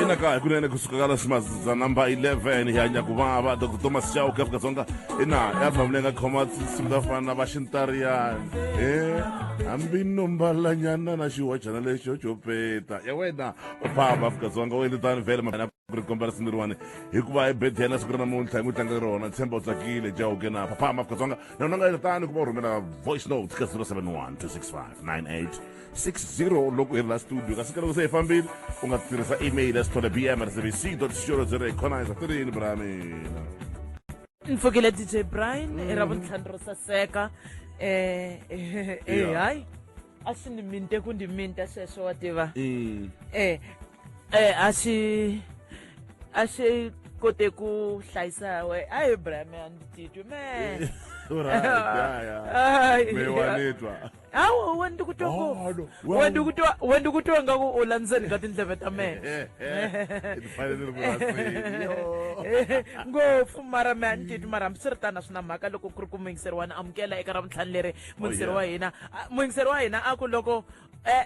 inaka kunene kusuka ka leswimaza namba 11 ya nyakuvava dr thomas chauke afrika dzonga ina ya famile nga khoma tinsimu ta fana na vaxintariyani e hambi nombalanyana na xiwajana lexo xo peta ya wena u famba afrika dzonga u endle tani vhele mavana ku ri komba risiniriwani hikuva hi bedi yena siku ra namuntlha hi n'wi tlanga rona tshemba u tsakile jauke na famba afrika dzonga na wena nga yi tani ku va rhumela voice note ka 071 265 9860 loko i ri la studio kasi ka loko se hi fambile u nga tirhisa email ya sithole bm rsbc co za hi khonaiza ti ri yini bra mina ni pfukile dj brian i ra vuntlhanu ro saseka um hayi a swi ni minte ku ndi minta sweswo wa tiva um eh a xi a xi kote ku hlayisa we a hi braham a ndzi titwi me hawu we ndi ku twa ngopfu we ndi ku twa we ndi ku twa nga ku u la ndzeni ka tindleve ta mena ngopfu mara me a ni titwi mara hambi swi ri tani a swi na mhaka loko ku ri ku muyingiseri wa ni amukela eka ra vuntlhanu leri muyingiseri wa hina muyingiseri wa hina a ku loko um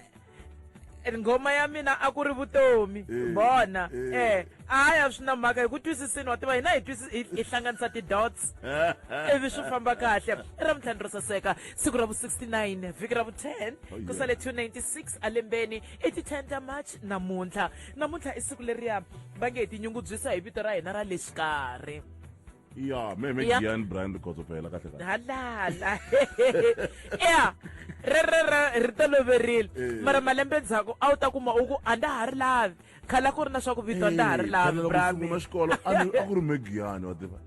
nghoma ya mina a ku ri vutomi eh, bona eh. eh a ya swi na mhaka hi ku twisisini wa tiva hina hi twisisi hi hlanganisa ti-dots ivi swi famba kahle i ra mintlhanu ro saseka siku ra vu-69 vhiki ra vu-10 ku sale 296 alembeni i ti-10 ta march namuntlha namuntlha i siku leriya va nge hi tinyungubyisa hi vito ra hina ra le xikarhi ya me me Gian brand kgotso fela ka tlheka halala ya re re re re toloverile eh. mara malembe ndzhaku a wu ta kuma u ku a nda ha ri lavi khala ku ri na swa ku vito a nda ha ri eh, lavi brasungula xikolo a ku ri me Gian wa tiva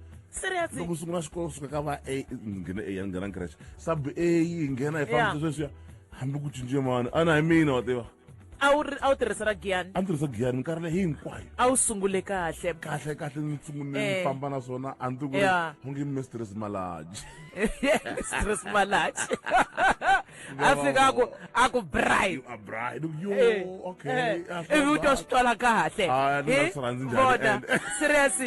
loko sungula xikolo suka ka va a nghena a nghena nkrashe sub a nghena hi fambisa sweswiya hambi ku cince mani a na hi mina wa tiva a wu ri- a wu tirhisa ra giyani a ni tirhisa giyani minkarhi leyi hinkwayo a wu sungule kahle kahle kahle ni tsungunile Eh. ni famba na swona a ni ti ku ri Yeah. u nge mistress malaji stress malachi a fika a ku a ku bright you are bright yo Eh, okay eh, ah, so ivi u to bad. swi twala kahle Ah, ni nga Eh, swi rhandzi njhani vona ende. serious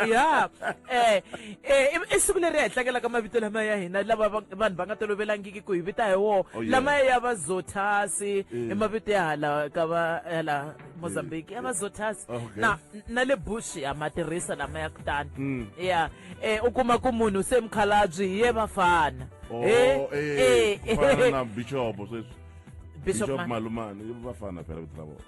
ya eh um i siku leri hi tlangelaka mavito lama ya hina lava vanhu va nga tolovelangiki ku hi vita hi woho oh, lama ya va zothasi i mavito ya hala ka va hala mozambique ya va zothasi oh, na na le bush ha ma tirhisa lama ya kutani mm. ya um u kuma ku munhu se mukhalabyi hi ye vafana oh, eh, eh, eh. na bichopo sweswi bishop malumane i vafana phela vito la vona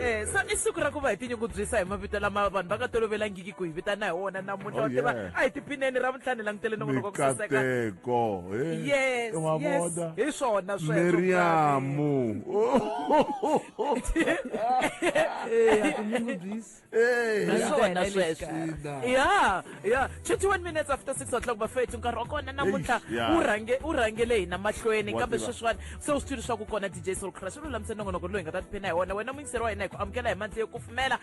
Eh, so i siku ra ku va hi tinyungubyisa hi mavito lama vanhu va nga tolovelangiki ku hi vitana hi wona namuntlha Oh, wa tiva yeah. a hi tiphineni ra vuntlhani langutele nongonoko wa ku saseka mikateko eh. yes wa yes vona hi swona sweswo miriyamu Eh, ha tinyungubyisi. Eh, Hi swona Hi sweswo. Ina. ya ya 21 minutes after 6 o'clock bafethu nkarhi wa kona namuntlha Eish, yeah. wu rhange- wu rhangele hina mahlweni Wa kambe tiva. sweswiwani se wu swi tivi leswaku kona dj soul crush u lulamise nongonoko loyi hi nga ta tiphina hi wona wena muyingiseri wa hina hi ku amukela hi mandla yo kufumela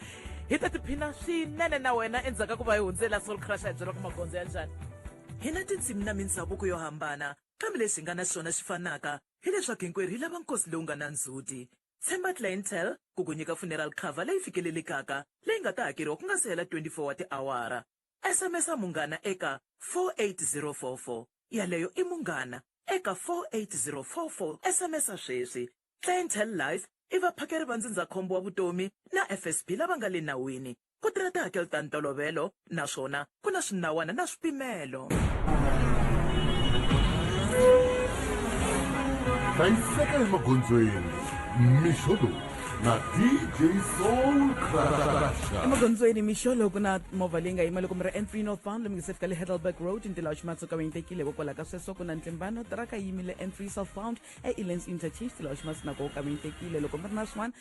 hi ta tiphina swinene na wena endzhaku ka ku va hi hundzela soul crush a hi byela ku magondzo ya njhani hi na tindzimi na mindhavuko yo hambana kambe leswi hi nga na swona swi fanaka hileswaku hinkwerhu hi lava nkosi lowu nga na ndzhuti Tshemba Clientele ku ku nyika funeral cover leyi fikelelekaka leyi nga ta hakeriwa ku nga si hela 24 wa tiawara. SMS-a Munghana eka 48044. Yaleyo i Munghana eka 48044. SMS-a sweswi. Clientele Life i vaphakeri va ndzindzakhombo wa vutomi na FSB lava nga le nawini. ku tirha tihakelo ta ntolovelo naswona ku na swinawana na swipimelo hlayiseka emagondzweni mixo lowu na dj soul crasha emagondzweni mixo lowu ku na movha leyi nga yima loko mi ri entry north bound lomi nge se fika le hedelberg road ntila wa ximatsuka va yitekile hikokwalaho ka sweswo ku na ntlimbano tiraka yimile entry south bound eelens interchange tila wa ximatsu nako ka va yitekile loko mi ri na swin'wana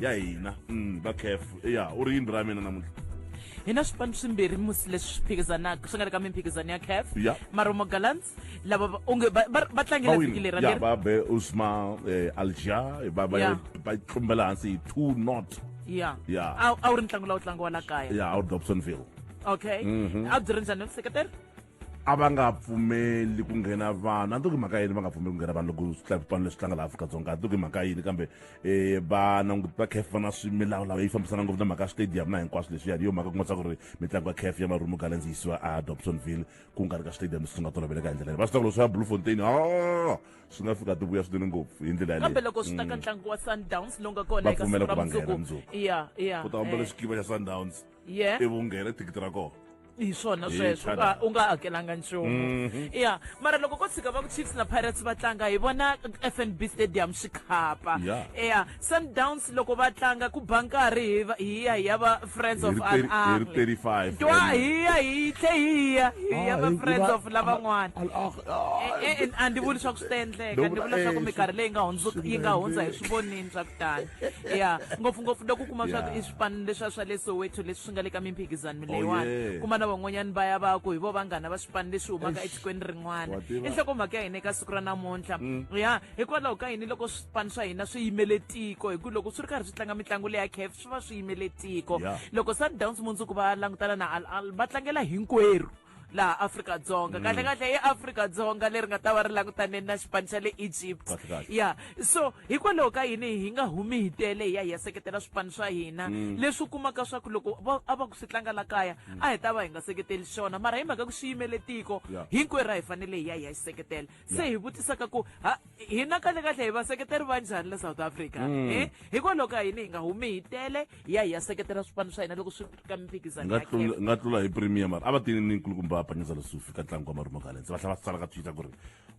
ya hina mm, va caf ya u ri yini ra mina namuntlha hi na swipano swimbirhi musi leswi swi phikizanaka swi nga ri ka mimphikizano ya caf Ya. maromo gallants lava va- onge va- va va tlangela vhiki leri ra ya leri va be usma eh, alja va va Ya. va tlumbela hansi hi two not ya Ya. a a wu ri ntlangu lawu tlangiwa la kaya ya out dobsonville okay a byi ri njhani vuseketeri a va nga pfumeli ku nghena vanhu a ni to ki mhaka yini va nga pfumeli ku nghena vanhu loko swipano leswi tlanga laha afrika-dzonga a ni to ki mhaka yini kambe um va languti va caf va na swimilawulawu yi fambisana ngopfu na mhaka ya stadium na hinkwaswo leswiya hi yo mhaka ku nga tsaka ku ri mitlangu ya caf ya marumo gallens yi siwa a dobsonville ku nga ri ka stadium leswi swi nga toloveleka hi ndlela leyi va swi tsaka loko swi ya blue fontain a swi nga fika tivuya swinene ngopfu hi ndlela yaleyo kambe loko swi ta ka ntlangu wa sundowns lowu nga kona eka siku ra mundzuku ya ya ku ta famba leswikiva xa sundowns yeah. ivi u nghena thikithi ra kona hi swona sweswo u nga hakelanga nchumu mhm. ya mara loko ko tshika va ku chiefs na pirates va tlanga hi vona f n b stadium swi khapa ya sundowns loko va tlanga ku ba nkarhi hi ya hi ya va friends of r r twa hi ya hi tlhe hi ya hi ya ah, va friends of lavan'wana e, e, a ndi vuli swa ku swi ta endleka ndi vula swa ku minkarhi leyi nga hundza yi nga hundza hi swi vonini swa ku tani ya ngopfungopfu loko u kuma swa ku swipanu leswiya swa le soweto leswi swi nga le ka mimphikizano leyiwani oh, yeah. kuma na van'wanyani va ya va ku hi vo vanghana va swipanu leswi humaka etikweni rin'wana i nhlokomhaka ya hina eka siku ra namuntlha mm. ya hikwalaho ka yini loko swipanu swa hina swi yimele tiko hi ku loko swi ri karhi swi tlanga mitlangu leya caf swi va swi yimele tiko loko sundowns mundzuku va langutana na al al va tlangela hinkwerhu laha afrika-dzonga kahle mm. kahle i afrika-dzonga leri nga ta va ri langutaneni na xipano xa le egypt ya so hikwalaho ka yini hi nga humi hi tele hi ya hi ya seketela swipano swa hina mm. leswi u kumaka swa ku loko a va ku swi tlanga la kaya mm. a hi ta va hi nga seketeli xona mara hi mhaka ku swi yimele tiko hinkwerhu a hi fanele hi ya hi ya xi seketela se hi vutisaka ku ha hina kahle kahle hi vaseketeri va njhani la south africa mm. eh, hikwalaho ka yini hi nga humi hi tele hi ya hi ya seketela swipano swa hina loko swi ka miphikizanonga tlula hi premier mara a va tini ni nkulukumba va panyeza lesufi ka ntlangu wa marumo galense va tlhela va tsala ka twitter ku ri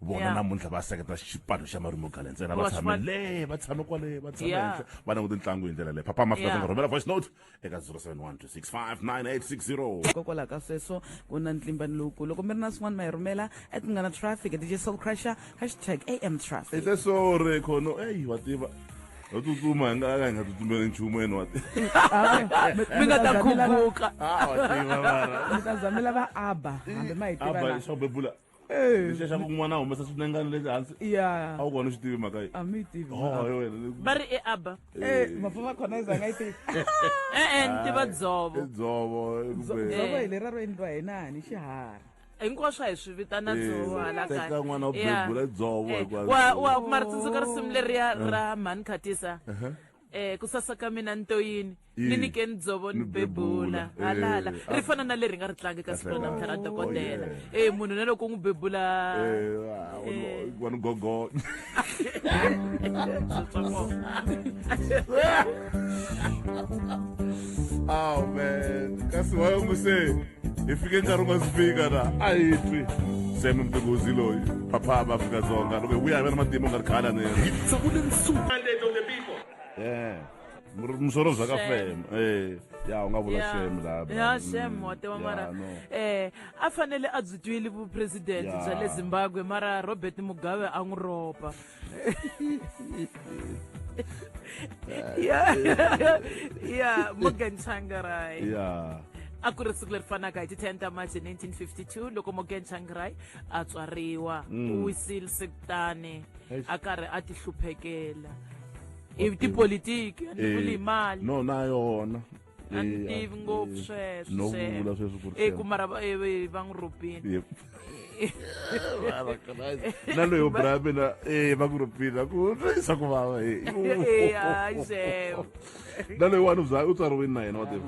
vona namuntlha va seketela xipano xa marumo galense ena va tshamele va tshame kwale va tshame henhla va languti ntlangu hi ndlela leyi papa mafika rhumela voice note eka 0712659860 hikokwalaho ka sweswo ku na ntlimbani lowukulu loko mi ri na swin'wana ma hi rhumela at nga na traffic at dj soul crusher hashtag am traffic ite sore khono eyi wa tiva ho tsutsuma hi nga ka hi nga tsutsumeli nchumu ene wa tiva mi nga ta khumbuka Ah, wa tiva mara mi ta zamela va abba hambi ma hi aba tiva xo bebula xexa kun'wana humesa swinengana leswi hansi ya a wu kona u swi tivi mhaka yi a mi tivi Oh, hi wena le- va ri e aba Eh, mafa va khona izanga yi tivi e-e ni tiva dzovo i dzovo i ku be- dzovo hi lera ro endliwa hi nani xiharhi hinkwaswo a hi swi vitana Eh, dzovo hala teka kaya. n'wana u Yeah. bebula dzovo Eh, hikwalaho. wa- wa- mara tsundzuka risimu leriya ra mhani khatisa eh ku sasa ka mina ni to yini Ii. ni nyikeni dzovo ni Ni bebula. bebula halala Eh, ri a- fana na leri nga ri tlangi ka siku ra Kahle namuntlha ra kahle. dokodela Oh, eh munhu na loko u n'wi bebula Eh, ah, wanu- wanu gogo oh man kasi wayonguse hi fike nkarhi u nga si fika na a hi twi seme mtighozi loyi phapha va afrika dzonga loko hi vuya hi ve na matimba u nga ri khala ni yena Yeah. Mur- musoro bya ka fem eh ya u nga vula Yeah. shem la bra. ya shem Mm, wa tiva yeah, mara no. eh a fanele a byi twile vupresidente Yeah. bya le zimbabwe mara robert mugabe a n'wi ropa ya ya morgan changarai ya a ku ri siku leri fanaka hi ti 10 ta march 1952 loko morgan changarai a tswariwa mm. u wisile sekutani a karhi a ti hluphekela hi tipolitiki a ni vuli eh, mali no na yona a ni tivi ngopfu sweswo e ku mara va n'wi rhobini na loyo bra mina e va ku rhobini a ku twisa ku vava e na loyi wani u tswariwini na yena wa tiva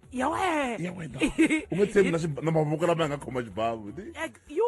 ya wena ya wena u nga tshembi na xib- na mavoko lama ya nga khoma xibavu Ti- Ek- yo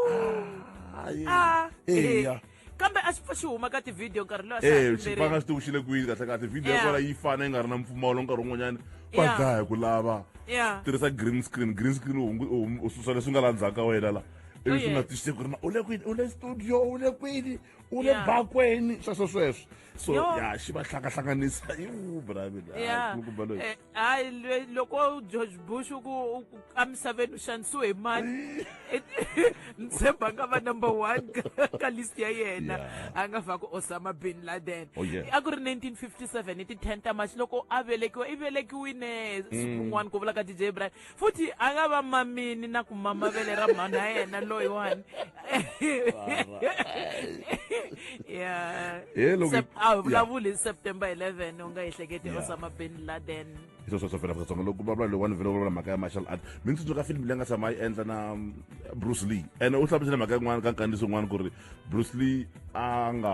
Hayi. Ah, Eya. eh. kambe a xi pfa xi huma ka tivhidiyo nkarhi lowu a xi ha Eh, xipanga tlumberile. xi tiwuxile kwini kahle kahle video ya Yeah. kona yi fana yi nga ri na mpfumawulo nkarhi wun'wanyana va Yeah. dlaya ku lava Yeah. tirhisa green screen green screen u hungu- u hum- u susa leswi nga la ndzhaku ka wena la Oh, ivi swi nga yeah. twisise ku ri na u le kwini u le studio u le kwini u le Yeah. bakweni sweswo sweswo Yo. ya xi va hlangahlanganisa iwu bravin Yeah. loyi Eh, hayi le- loko george bush u ku u ku emisaveni u xanisiwe hi mani ni tshemba a nga va number one ka- ka list ya yena Yeah. a nga va ku osama bin laden Oh, yeah. a ku ri 1957 hi ti 10 ta march loko a velekiwa i velekiwine siku rin'wana ku vula ka dj brian futhi a nga va mamini na ku mama vele ra mhani ya yena loyiwani a vulavuli hi september 11 u nga ehleketi osama bin laden hi sweswo swo fela vatsongo loko vulavula loyiwani vele vulavula mhaka ya martial art mi ni tsundzuka filimi leyi nga tshama yi endla na um, bruce lee ene u hlamusele mhaka yin'wana ka nkandziso un'wana ku ri bruce lee a nga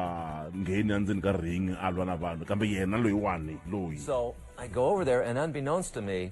ngheni endzeni ka ring a lwa na vanhu kambe yena loyiwani loyi so i go over there and unbeknownst to me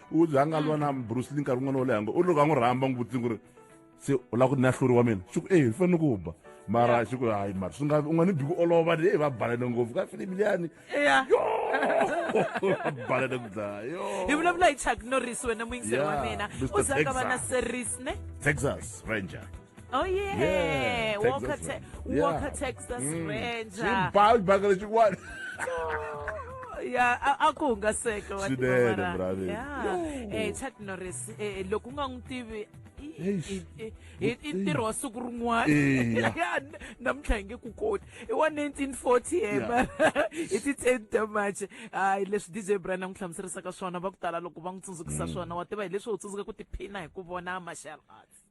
u za nga lwa na bruce lee nkarhi wun'wana wo leha ngo u ri loko a n'wi rhamba n'wi vutisi ku ri se u lava ku ni nahluri wa mina xi ku eyi ni fanele ku ba mara xi ku hayi mara swi nga u nga ni bi ku olova ni eyi va balane ngopfu ka filimi liyani ya va balane ku dlaya yo hi vulavula hi chuck norris wena muyingiseri wa Yeah, mina Mr. u za nga va na Texas. series ne texas ranger Oh yeah, yeah Walker, Texas, Te- yeah. Walker, Texas mm. Ranger. Bhawu bhakala chikwani. ya a ku hungaseka wa swinene ya eh Chuck Norris eh, eh loko u nga n'wi tivi i ntirho wa siku rin'wana ya namuntlha hi nge ku koti i wa 1940 he mara hi ti 10 ta march hayi leswi dj brian a n'wi hlamuserisaka swona va ku tala loko va n'wi tsundzukisa mm. swona wa tiva hi leswi u tsundzuka ku tiphina hi ku vona martial arts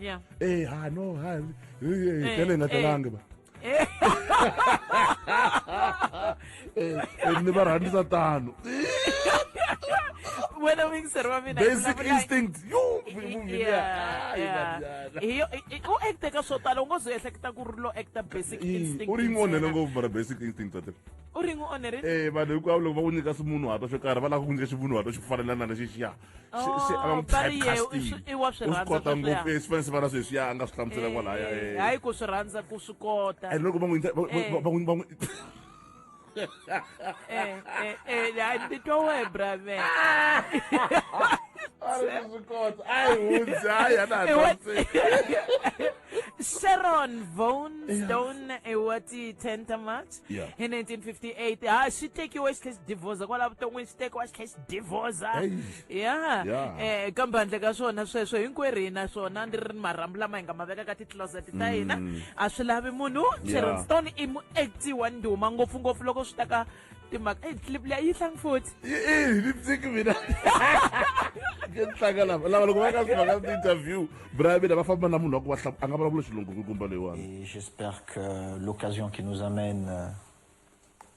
ya ee ha no ha tele nga telangi ba ni va rhandisa tano wena wingiseri wa mina basic instinct u acte ka swo tala u ngo ze ehleketa ku ri lo acta basic instinct u ri n'wi onhele ngopfu mara basic instinct tate u ri n'wi onherile eh vanhu hinkwavo loko va ku nyika swimunhuhatwa swo karhi va lava ku nyika ximunhuhatwa xi fanelana na lexixiya se se a va n'wi typecasting i wa swi u swi rhandza kota sweswiya. ngopfu eh, swifanisi vana sweswiya a nga swi hlamusela kwalaya Eh, eh. hayi ku swi rhandza ku swi kota and loko va n'wi va- Eh. va- va n'wi- va n'wi Eh, eh, eh, hayi ndzi twa wehe brave a ri swi kota a hi hundzi a hi ana Eh, what- hansi sharon vonstone eh, wa ti 10 ta march Yeah. hi 1958 ha swi tekiwe xi tlhe xi divoza kwala vuton'wini swi tekiwa xi tlhe xi divoza Hey. ya Yeah. eh kambe handle ka swona sweswo hinkwerhu hi na swona ni ri ni marhambu lama hi nga ma veka ka ti-closet ta hina a swi lavi munhu Mm. Yeah. sharon stone i muacti wa ndhuma ngopfungopfu loko swi ta ka timhaka eyi clip leyi a yi tlangi futhi Eh, ni pfiki mina. Ke tlanga lava lava loko va ka swi va ka interview Et j'espère que l'occasion qui nous amène euh,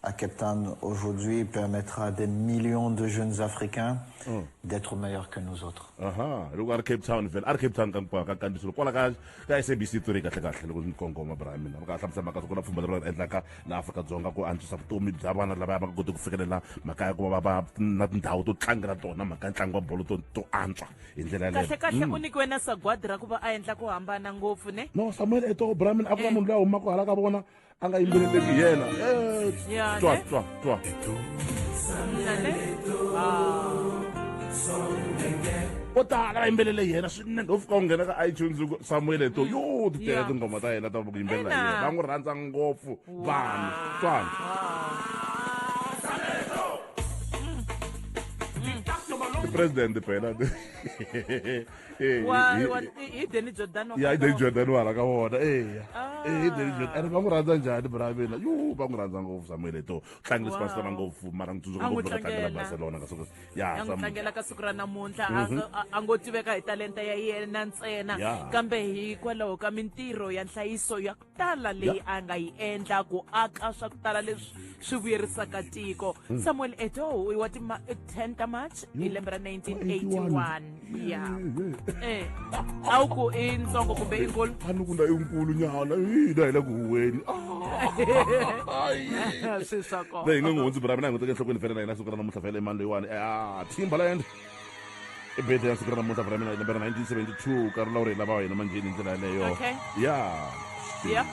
à Cape Town aujourd'hui permettra à des millions de jeunes Africains mm. d'être meilleurs que nous autres. Aha, loko ari Cape Town vele ari Cape Town ka nkwaka ka ndisolo kwala ka ka SABC to ri kahle kahle loko ni kongoma bra mina ka hlamusa maka ku na pfumba leri va endlaka la Afrika Dzonga ku antswisa vutomi bya vana lava va kota ku fikelela maka ya ku va va na tindhawu to tlangela tona maka ntlangu wa bolo to to antswa hi ndlela kahlekahle mm. u nyikiwe na sagwadi ra ku va a endla ku hambana ngopfu ne no samuel eto bramin a ku na eh. munhu loyi a humaka hala ka vona a nga yimbeleleki yena eh, twa twa twa vo tala va yimbelele yena swinene u fika u nghena ka itunes samuel eto yo ti tele tinghoma ta yena ta ku yimbelela yena va n'wi rhandza ngopfu vanhu twani president phela hi deni jordan ya hi deni jordan wa hala ka vona eya hi deni jordan ene va n'wi rhandza njhani bra mina yu va n'wi rhandza ngopfu samuel eto tlangi leswi vansilana ngopfu mara n'wi tsundzuka ngopfu ka tlangela barcelona ka siku ya tlangela ka siku ra namuntlha a ngo tiveka hi talenta ya yena ntsena kambe hikwalaho ka mintirho ya nhlayiso ya tala leyi a nga yi endla ku aka swa ku tala leswi swi vuyerisaka tiko hmm. samuel etoho i wa ti 10 ta march hi hmm. lembe ra 1981 ya eh a wu ku i ntsongo kumbe i nkulu a ni ku na i nkulu nyana i da hi le ku huweni swi swa kona leyi nga n'wi hundzi bra mina hi n'wi teke enhlokweni fela na hina siku ra namuntlha fela emani leyiwani a thimba la yende i birthday ya siku ra namuntlha vra mina hi lembe ra 1972 nkarhi lawu ri hi lava hina manjheni hi ndlela yaleyo Okay. ya Yeah.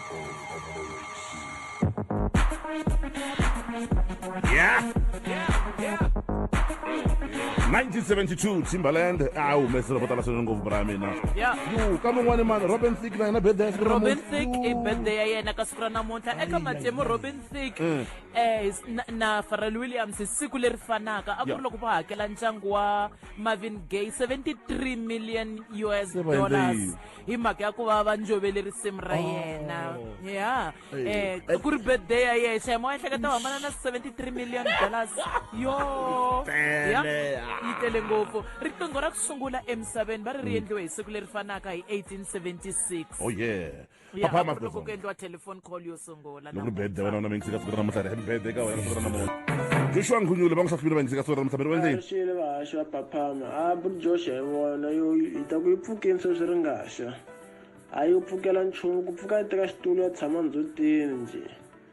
Yeah. 1972 timberland a humesile vo tala swinene ngopfu bra ya mina Yeah. yu ka mun'wani mani robin thick na yena birthday ya siku ra robin namuntlha. thick i Yu. birthday ya yena ka siku ra namuntlha eka matimu robin thick eh na, na Pharrell Williams hi siku leri fanaka a ku ri Yeah. loko va hakela ntlangu wa Marvin Gaye 73 million US Se va endle dollars yini? hi mhaka ya ku va va njovele risimu ra yena ya eh Hey. ku ri birthday ya yena xayimo wa ehleketa u hambana na 73 million dollars yo Tele. ya yi tele ngopfu riqingho ra ku sungula emisaveni va ri ri endliwe hi siku leri fanaka hi 1876 oh yeah ya Papa, a Marcus, ku ku endliwa telephone call yo sungula loko ri bede wena una mingisika siku ra namuntlha ri happy birthday ka wena siku ra namuntlha joshua nkhunyule va n'wi hlahlwile va yingiseka siku ra namuntlha miri wa ndzeni swile vahaxi va phaphama a buljosha hi vona yo hi ta ku yi pfukeni sweswi ri ngaxa a yi pfukela nchumu ku pfuka yi teka xitulu ya tshama ndzutini njhe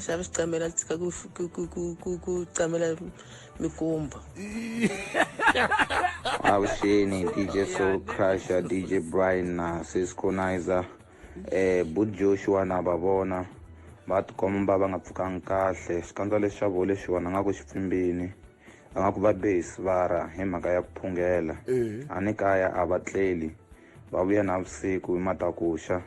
xava xicamela tshika ku ku ku ku ku ku camela mikumba avuxeni dj soul crusher dj brian na sisconizer eh bud joshua na va vona va tikomba va nga pfukanga kahle xikandza lexi xa vole xi vona nga ku xi pfimbini a nga ku va be hi sivara hi mhaka ya ku phungela a ni kaya a va tleli va vuya na vusiku hi matakuxa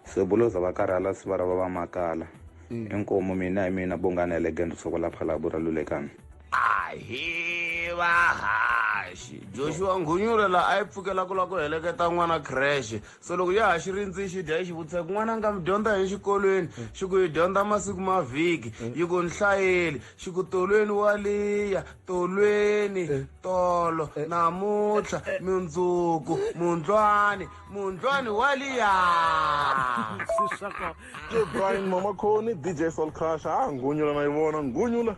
Sebuloza va karhala siva ra va va makala. Mm. Inkomu mina hi mina Bongani Elegant Sokola Phalabu ra Lulekani. Ahi vahaxi Joshua Nghunyule la a yi pfukela ku la ku heleketa n'wana crash so loko ya ha xi rindzi xi dya yi xi vutisa ku n'wana nga mi dyondza hi xikolweni mm. xi ku yi dyondza masiku ma vhiki mm. yi ku ni hlayeli xi ku tolweni wa liya tolweni eh. tolo eh. namuntlha eh. mundzuku mundlwani mundlwani wa liya yo brian mama khoni dj sol crush ha ah, ngunyula na yi vona ngunyula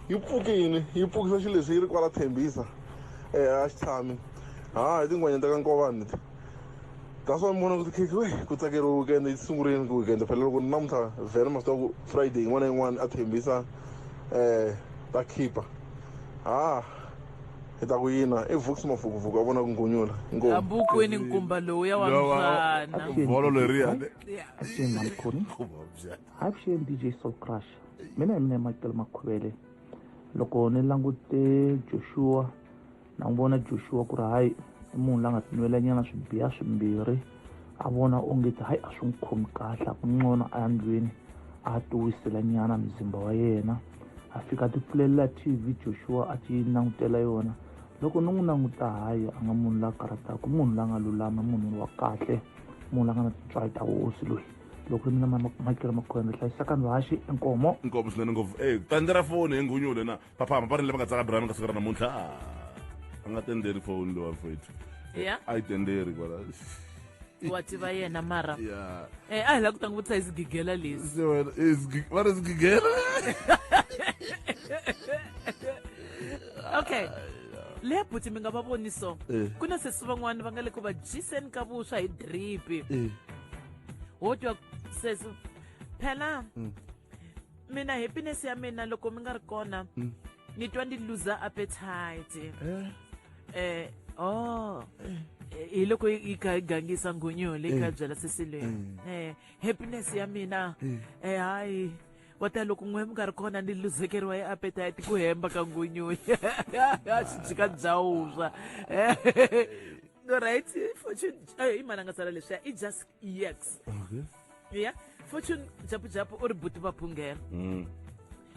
yi pfuke yini yi pfukisa xilo lexi yi ri kwala thembisa um eh, a xi tshami ha ah, hi tinghwanya ta ka nkovani leti that's why mi vona ku tikhekhi we ku tsakeriwa weekend yi sungurile ku weekend phela loko namuntlha vhele masiku ya ku friday yin'wana na yin'wana a thembisa um ta khipa ha ah. hi ta ku yina i vuks mafukufuku a vona ku ngunyula abukweni nkumba lowuya wa mfana volo leriya avuxeni dj soul crush mina hi mina makelo makhuvele loko ni langute joshua na n'wi vona joshua ku ri hayi i munhu la nga tinwelanyana swibiya swimbirhi a vona onge ti hayi a swi n'wi khomi kahle a ku ncono a ya ndlwini a ya tiwisela nyana muzimba wa yena a fika a ti pfulelela tv joshua a ti langutela yona loko ni n'wi languta hayi a nga munhu la karhataka munhu la nga lulama munhu wa kahle munhu la nga na tintswayi ta hosi loyi loko ri mina makela makhwende hlayisaka ndhaxi enkomo nkomo swinene ngopfu e tandza ra foni hi nghunyule na va famba va ri lava nga tsaka brana ka siku ra namuntlha a nga tenderi foni lowa fethu ya a yi tenderi kwala wa tiva yena mara ya eh, a hi la ku ta n'wi vutisa hi swigigela leswi se wena eh, sgi- va ri swigigela okay le buti mi nga va voni so Eh. ku na sesi van'wana va nga le ku va dyiseni ka vuswa hi dripi Eh, wo twa sesi phela mina happiness ya mina loko mi nga ri kona mm. ni twa ndi lose appetite eh, eh oh eh. eh hi loko yi kha yi gangisa nghunyu leyi kha eh. byela sesilweni eh happiness ya mina eh hayi wata loko n'we mi nga ri kona ni luzekeriwa hi appetite ku hemba ka nghunyu ya xijika bya wuswa right fortune i mananga tsala leswiya i just ex okay. ya fortune japujapu u ri buti va phungela mm.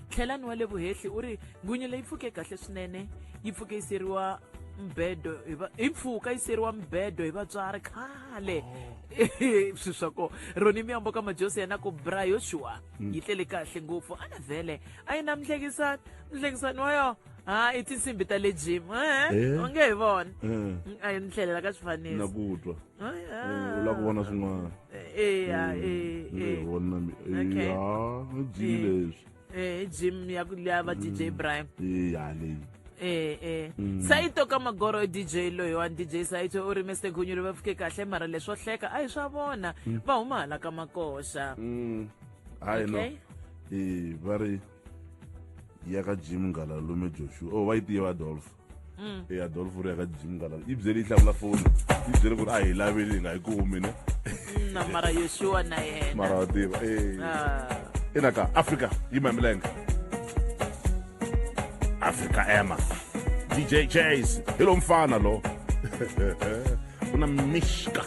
tlhelani wa le vuhehli u ri nghunyu leyi pfuke kahle swinene yi pfuke yi seriwa mbedo hi mpfhuka yi seriwa mbedo hi vatswari khale oh. swi swa ko roni miyambo ka majosi yena ku bra yoshua mm. yi tlele kahle ngopfu a na vhele a yi na mhlekisani mhlekisani wa yo ha i tinsimbi ta le jim eh? eh? onge hi vona eh. a yi ni tlhelela ka swifanisi la ku vona swin'wana vona ni jimi leswi eh gym ya ku liya va DJ mm. Brian eh ya leyi eh eh mm. sayito ka magoro DJ loyi wa DJ sayito u ri Mr Gunyulu va fike kahle mara leswo hleka a hi swa vona mm. va huma hala ka makoxa hayi no eh va ri ya ka gym ngala lume Joshua oh va yi tiva Adolf mm. e adolf u ri ya ka jim ngala yi byele yi hlamula foni yi byele ku ri a hi laveli hi nga yi kumi ne na mara yoshiwa na yena mara wa tiva e ah. ina ka africa yi mamilenge africa ema dj chase hi lo mfana lo ku na mixka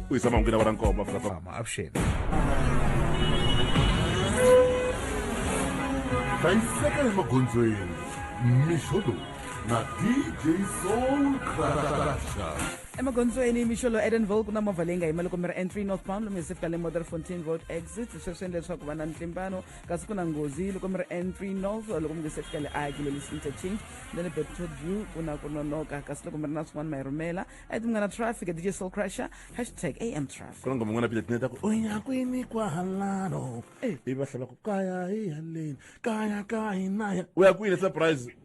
u yisa mahungu na va ra nkombo afrikafama avuxeni hlayiseka emagondzweni mixo lowu na dj soul crasha emagondzweni mixolo edenville ku na movha leyi nga yima loko mi ri n3 northbound lomu hi sefika le mother fontain road exit sweswi endla leswaku va na ntlimbano kasi ku na nghozi loko mi ri entry north loko mi nge se fika le a gilelisi interchange na le beptod view ku na ku nonoka kasi loko mi ri na swin'wana ma yi rhumela a ti munghana traffic dj soul crusher hashtag am traffic ku na ngoma yin'wana piletini ta ku u ya kwini kwahalano ivi va hlava ku kaya hi haleni kaya ka hina ya u ya kwini surprise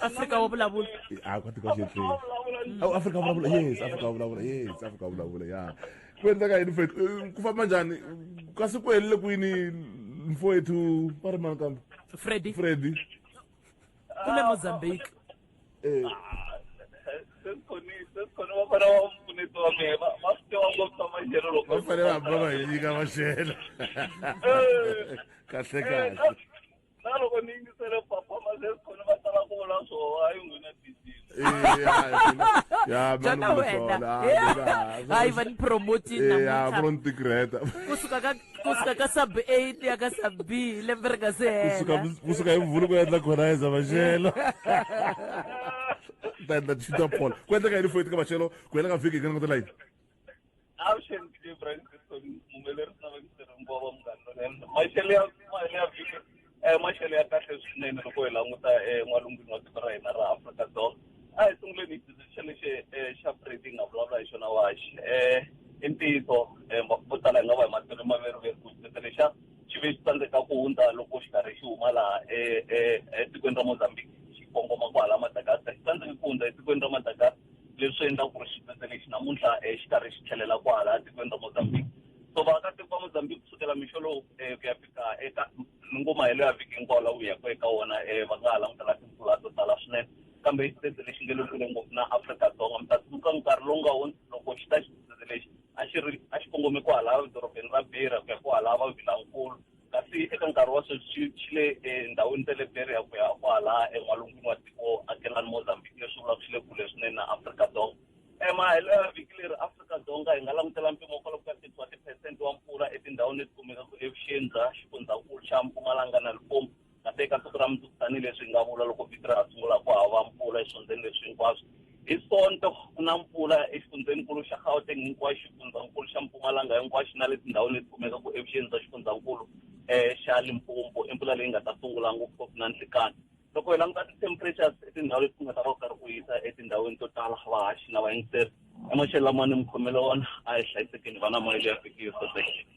Afrika wa vulavula. Ah, ka tika xethu. Awu Afrika vulavula. Yes, Afrika vulavula. Yes, Afrika vulavula. Yeah. Ku endleka yini mfethu? Eh, ku famba njani? Kasi ku helile kwini mfowethu va ri mani kambe? Freddy. Freddy. Ku le Mozambique. Eh. va fanele va ba va hi nyika maxelo kahle kahle na loko ni yingisele papa maseskhona va tala ku vula swona hayi n'wina jana wena hayi va ni promotinkusuka ka sub eight ya ka sub b lembe ri nga se helakusuka hi mvulu ku endla khonaiza maxelo ta endla tshita phola ku endleka yini foyiti ka maxelo ku hela ka vhiki hi ka langutelayini Avuxeni ndzi Brian Christon muhumelerisi na vekiseri hinkwavo va munghana lonene maxelo ya mali ya vhiki um maxelo ya kahle swinene loko hi languta en'walungwini wa tiko ra hina ra Afrika-Dzonga a hi sunguleni hi decision lexi um xa Brady nga vulavula hi xona waxi um i ntiyiso um vo tala hi nga va hi matsolo maveriveri ku xiseta lexa xi ve xi tsandzeka ku hundza loko xi karhi xi huma laha etikweni ra Mozambique xi kongoma ku hala Madagascar xi tsandzeke ku hundza etikweni ra Madagascar leswi endlaka ku ri xitsetse lexi namuntlha um xi karhi xi tlhelela kwahala etikweni ra mozambique so vaakatiko va mozambique kusukela mixo lowu um ku ya fika eka ningoma helo ya vhiki hinkwawo la wu yaka eka wona um va nga ha langutela timpfula to tala swinene kambe i xitsetse lexi nge le kule ngopfu na afrika-dzonga mi ta tsundzuka nkarhi lowu nga hundzi loko xi ta xitsetse lexi a xi ri a xi kongome kwahala edorobeni ra bira ku ya kwahala va vilankulu kasi eka nkarhi wa sweswi xi le endhawini ta le beria ku ya kwala en'walungwini wa tiko akelani mozambique leswi vulaka xi le kule swinene na afrika dzonga emahelo ya vhiki leri afrika dzonga hi nga langutela mpimo kwala ku ka thirty wa tiphesente wa mpfula etindhawini leti kumekaka evuxeni bya xifundzankulu xa mpumalanga na lipompo kambe eka siku ra mundzuku tanihileswi hi nga vula loko vito ra ha sungula ku hava mpfula eswifundzeni leswi hinkwaswo hi sonto ku na mpfula exifundzeninkulu xa gauteng hinkwaxo xifundzankulu xa mpumalanga hinkwaxo na le tindhawini leti kumekaka evuxeni bya xifundzankulu um eh, xa limpompo i mpfula leyi nga ta sungula ngopfungopfu na nhlikani loko hi languta ti-temperatures etindhawu leti ku nga ta va ku karhi ku yisa etindhawini to tala vahaxi na vayingiseri emaxelo lama ni mi khomele wona a hi hlayisekeni vana moya leyi ya fikile sosekile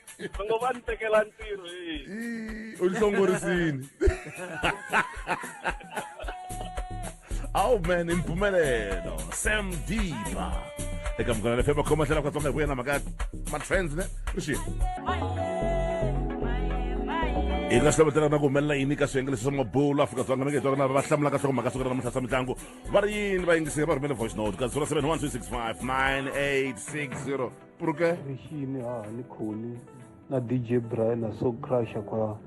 va ngo va ni tekela ntirho hi u hlongorisini awu man i mpfumelelo sam diba eka mugana le fema khoma tlhela katsonga hi ku yena mhaka matrends ne ri xi hi nga hlovetela na ku humelela yini ka swiyenge leswi swa mabulu afrika dzonga mi nge hi twa na va hlamulaka swa ku mhaka siku ra namuntlha swa mitlangu va ri yini vayingiseri va rhumele voice note ka 071 365 9860 Porque? Rixini ha ni khoni na DJ Brian na so crusher kwa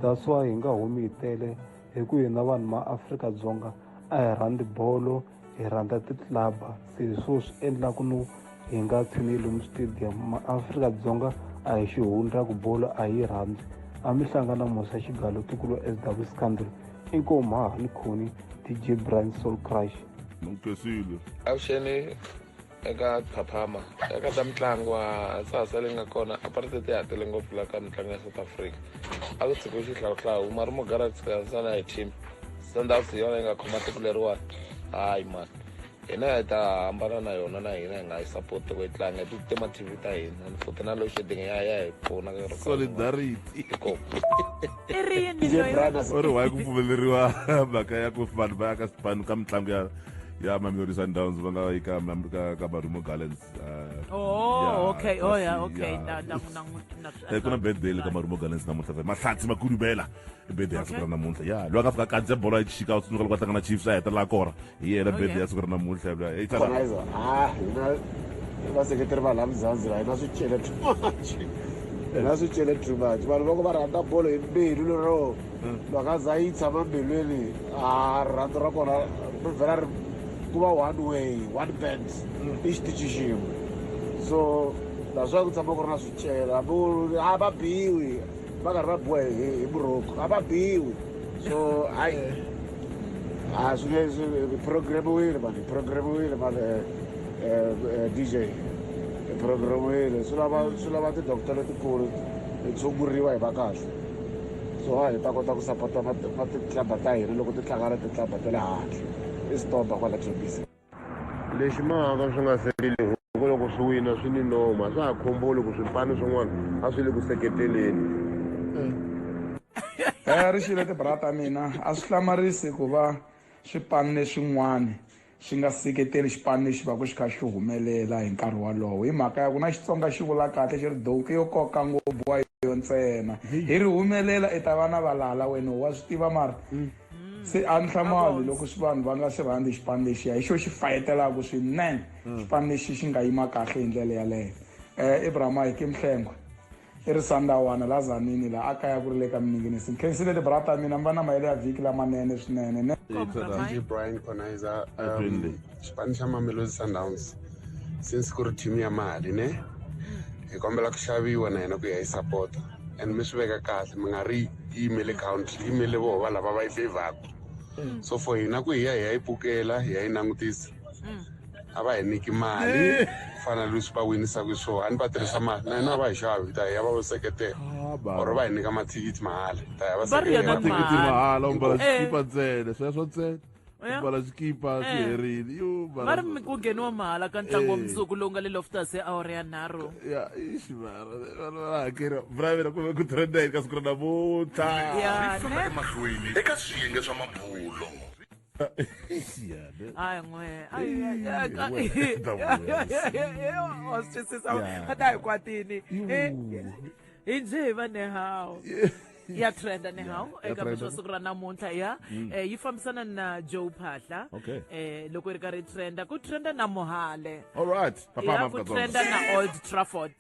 that's why hi nga humi hi tele hi ku hina vanhu ma Afrika Dzonga a hi rhandzi bolo hi rhandza ti-club se hi swo swi endlaku no hi nga tshini lomu stadium ma Afrika Dzonga a hi xihundla ku bolo a yi rhandzi a mi hlangana musa xigalo tikulu SW Scandal inkomu ha ni khoni DJ Brian Soul Crush Nukesile. Avuxeni eka phaphama eka ta mitlangu wa sasa leyi nga kona apartheid ya ha tele ngopfu la ka mitlangu ya south africa a ku tshikiwe xihlawuhlawu mari mugarax kansana hi team sundowns hi yona yi nga khoma tiko leriwani hayi mani hina hi ta hambana na yona na hina hi nga yi support ku yi tlanga hi titima tv ta hina ni futhi na losheding ya ya hi pfuna solidarity or why ku pfumeleriwa mhaka ya ku vanhu va ya ka swipanu ka mitlangu ya ya mamelodi sundowns va nga yi ka ka ka marumo gallants uh, oh yeah, okay oh yeah okay yeah. na na na eh, ku na birthday le ka marumo gallants namuntlha fe mahlatsi makudubela i birthday ya siku ra namuntlha ya loyi a nga fika kandze bolo ya chika u tsundzuka loko a hlangana chiefs a hetelela kora hi yena oh, birthday ya siku ra namuntlha loyi hey tsala ah hina vaseketeri va laha mzanzi va hina swi chele too much hina swi chele too much vanhu loko va rhandza bolo hi mbilu lero mhaka za yi tshama mbilwini a rirhandzu ra kona ri vhela ri ku va one way one band i xitichi xin'we so naswona ku tshama ku ri na swicela hambi u ri a va biwi va karhi va biwa hi hi buroko a va biwi so hayi a swi nge swi programiwile mani programiwile mani dj programiwile swi lava swi lava ti-doctor letikulu ti tshunguriwa hi va kahle so a hi ta kota ku sapota na na ti-club-a ta hina loko ti tlanga na ti-club-a ta le handle i stop-a kwala kbc lexi mahaka swi nga sekeli hikuva loko swi wina swi ni noma swa ha khomboli ku swipano swin'wana a swi le ku seketeleni ri xile tibrata mina a swi hlamarisi ku va swipanu leswin'wana xi nga seketeli xipano lexi va ku xi kha xi humelela hi nkarhi wolowo hi mhaka ya ku na xitsonga xi vula kahle xi ri donki yo koka ngopfu wa yo ntsena hi ri humelela i ta va na valala wena wa swi tiva mara mm. se a ni hlamali loko swi vanhu va nga swi rhandzi xipano lexiya hi xo xi fayetelaka swinene mm. xipano lexi xi nga yima kahle hi ndlela yaleyo um eh, ibrahim ayike mhlengwa eRisandawana la Zanini la a kaya ku ri le ka Miningini. Ndzi khensile ti bra ta mina mi va na mahelo ya vhiki lamanene swinene ne. DJ Brian Konizer um xipano xa Mamelodi Sundowns since ku ri team ya mali ne hi kombela ku xaviwa na hina ku ya yi support and mi swi veka kahle mi nga ri yimele country yimele voho va lava va yi favoraku so for hina ku hi ya hi ya yi pukela hi ya yi langutisa a va hi nyiki mali ku fana na leswi va winisaka swona a ni va tirhisa mali na hina a va hi xavi hi ta hi ya va va seketela Ah, baba. or va hi nyika mathikithi mahala hi ta ya va Va ri yena seketela mali. Thikithi mahala u mbala Eh. xikipa ntsena sweswo ntsena Ya. u mbala xikipa Eh. swi herile yo mbala va ri swo- mi- ku ngheniwa mahala ka ntlangu wa Eh. mundzuku lowu nga le loftus e awara ya nharhu ya ixi mara vana va hakeriwa bravela ku ve ku trenda yini ka siku ra namuntlha ya ne emahlweni eka swiyenge swa mabulo hayi n'we wa swi twisisa a ta hi kwatini hi ndzi hi va nehawu ya trenda ni hawu eka mixo siku ra namuntlha ya mm. eh, yi fambisana na joe phahla eh, loko yi ri karhi yi trenda ku trenda na mohale ku trenda na old trafford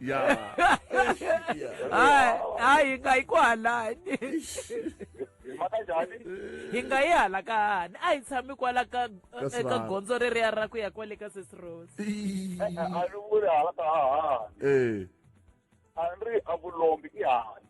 ya hayi hayi nga yi ku halani hi maka njhani hi nga yi hala ka hani a hi tshami kwala ka Ka eka Sibanda. gondzo reriya ra ku ya kwale ka sesi rose Ii. a ni vuli hala ka hahani ee a ni ri a vulombi i hahani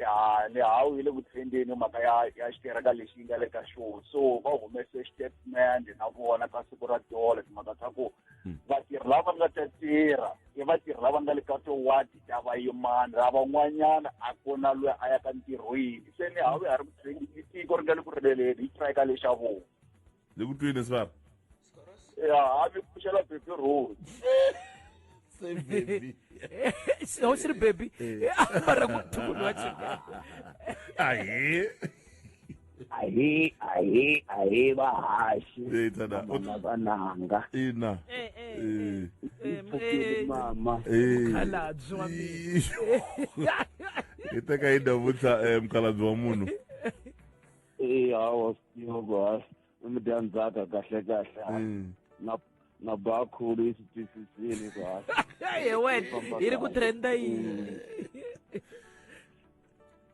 ya ni hawu yi le ku tshembeni mhaka ya ya xitereka lexi yi nga le ka xona so va humese statement na vona ka siku ra tolo timhaka ta ku hmm. vatirhi lava nga ta tirha i vatirhi lava nga le ka towadi ta vayimani ra van'wanyana a ku na loyi a ya ka ntirhweni se ni hawu ya ri ku tshembi tiko ri nga le ku riveleni hi strike lexa vona Ni ku twini sibaba? Ya, a mi pfuxela baby road. Se baby. Ho siri baby. Mara ku tulu wa chika. Ahi. Ahi, ahi, ahi bahashi. Eh tana. Mama bananga. Ina. Eh eh. Eh. Eh. Mama. Eh. Khalabzi wa mina. Iteka yi davutsa eh mkhalabzi wa munhu. eyi hawa siyoko hayi umntanzaka kahle kahle hayi mm. na bakhulu yi swi twisisile ku hayi ye wena yi ri ku trenda yini mm.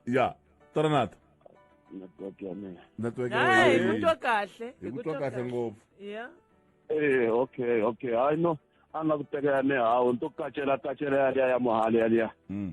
ya toranata network ya mina network ya mina hi kutwa kahle hi kutwa kahle ngopfu ya eh okay okay hayi no a nga ku tekela ni hawu ni to kacela kacela yaliya ya muhali yaliya mm.